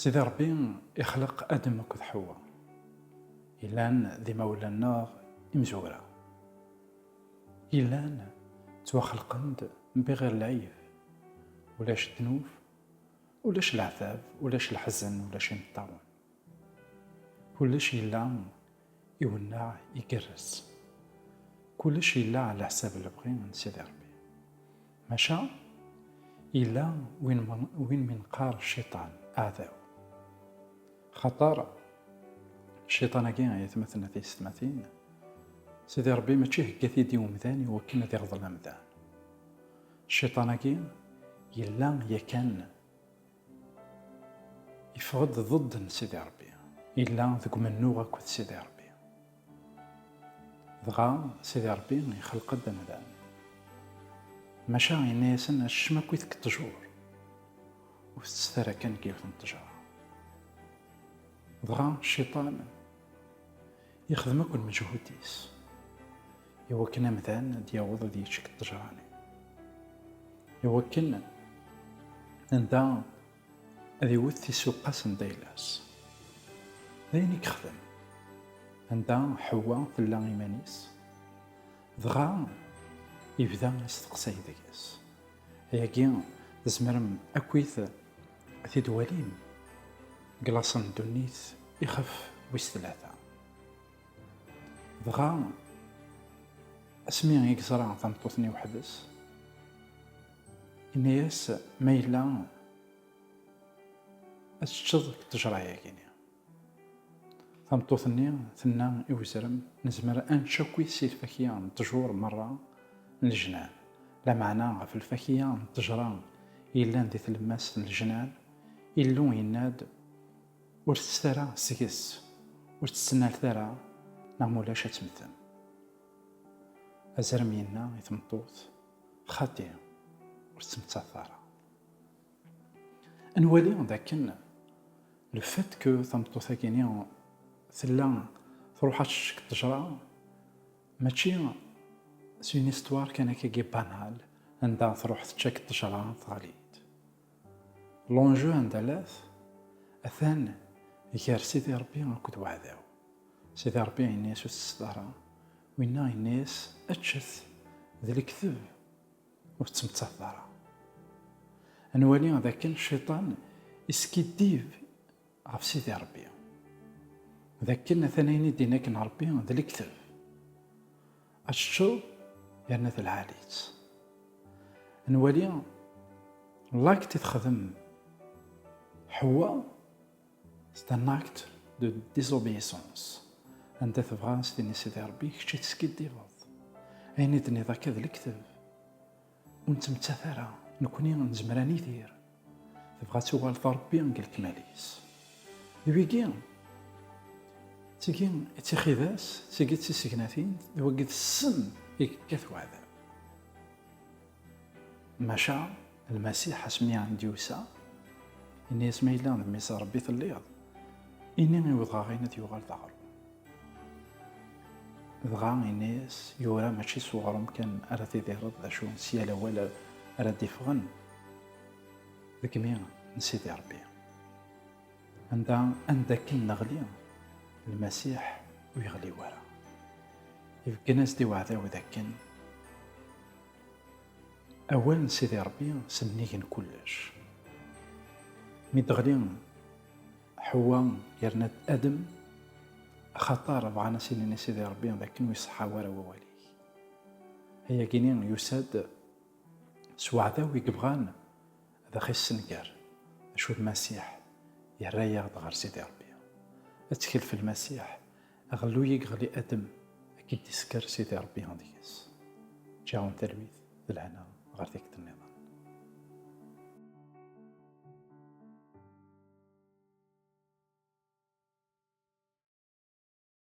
Sidi Ṛebbi ixleq Adem akked Ḥewwa, yellan d imawlan neɣ imezwura. Yellan ttwaxelqen-d bɣir lɛib, ulac ddnub, ulac leɛtab, ulac leḥzen, ulac imeṭṭawen. Kullec yella iwenneɛ igerrez. Kullec yella ɛla ḥsab lebɣi n Sidi Ṛebbi. Maca yella win mi neqqar cciṭan, aɛdaw. Axaṭer cciṭan-agi ay atmaten ataysetmatin, Sidi Ṛebbi mačči ihegga-t-id i umdan i wakken ad iɣḍel amdan. Cciṭan-agi yella yakan. Yeffeɣ-d ḍed n Sidi Ṛebbi. Yella deg umennuɣ akked Sidi Ṛebbi. Dɣa Sidi Ṛebbi ixleq-d amdan. Maca yenna-yasen acecma akkit deg ṭṭjur. Ur tettet ara kan deg yiwet n ṭṭjra. Dɣa Cciṭan. Yexdem akk lmeǧhud-is i wakken amdan ad yaweḍ ad yečč deg ṭṭejra-nni, i wakken anda ad iwet tisuqqa sanda yella-s. D ayen i yexdem anda Ḥewwa tella iman-is, dɣa yebda asteqsay deg-s. Ayagi tzemrem akkit. Tidwalin deg laṣel n ddunit ixef wis tlata. Dɣa asmi i yeẓra tameṭṭut-nni weḥd-s, yenna-as ma yella ad teččeḍ deg ttejra-agi. Tameṭṭut-nni tenna i wezrem, Nezmer ad nečč akkit si lfakya n ṭṭjur merra n lejnan, lameɛna ɣef lfakya n ṭṭejra yellan di tlemmast n lejnan, Illu yenna-d, Ur ttettet ara seg-s, ur tt-ttnalet ara, neɣ ma ulac ad temmtem. Azrem yenna i tmeṭṭut, Xaṭi, ur tettmettateḍ ara. Ad nwali d akken le fait que tameṭṭut-agi-ni tella truḥ ad teccekke ṭṭejra mačči c'est une histoire kan akkagi banale anda truḥ teččak ṭṭejra teɣli-d. L'enjeu anda llat atan gar Sidi Rebbi akked uɛdaw. Sidi Rebbi yenna-yas ur tettett ara, winna yenna-yas eččet, d lekdeb. Ur tettmettateḍ ara. Ad nwali d akken cciṭan iskiddib ɣef Sidi Ṛebbi, d akken atan ayen i d-yenna akken Ṛebbi d lekteb, ad teččeḍ yerna d lɛali-tt. Ad nwali lakt i texdem Ḥewwa. C'est un acte de désobéissance. Anda tebɣa s tini Sidi Rebbi, kečč i teskiddibeḍ. Ayen i d-nniḍ akka d lekteb. Ur nettmettat ara, nekkni nezmer ad nidir. Tebɣa ad tuɣaleḍ Rebbi deg lekmal-is. D wigi, d tigi i d tixidas, d tigi i d tisegnatin, d wagi d ssem i yekkat weɛdam. Maca Lmasiḥ asmi d-yusa, yenna-yas, Ma yella d Mmi-s n Ṛebbi telliḍ, ini i wedɣaɣ-in ad yuɣal d aɣṛum. Dɣa yenna-yas, Yura, Mačči s uɣṛum kan ara tidireḍ, d acu, s yal awal ara d-iffɣen deg imi n Sidi Ṛebbi. Anda anda akken neɣli, Lmasiḥ ur yeɣli wara. Ibeggen-as-d i weɛdaw d akken. Awal n Sidi Ṛebbi sennig n kullec. Mi d-teɣli Ḥewwa yerna-d Adem, axaṭer bɣan a s-inin i Sidi Ṛebbi d akken ur iṣeḥḥa wara wawal-ik. Ayagi-ni yusa-d s weɛdaw i yebɣan ad aɣ-issenger, acu d Masiḥ, yerra-yaɣ-d ɣer Sidi Ṛebbi. Ttkel f Lmasiḥ, Aɣelluy i yeɣli adem akken tisker Sidi Rebbi deg-s ǧǧaɣen talwit d lehna ɣer tikkelt nniḍen.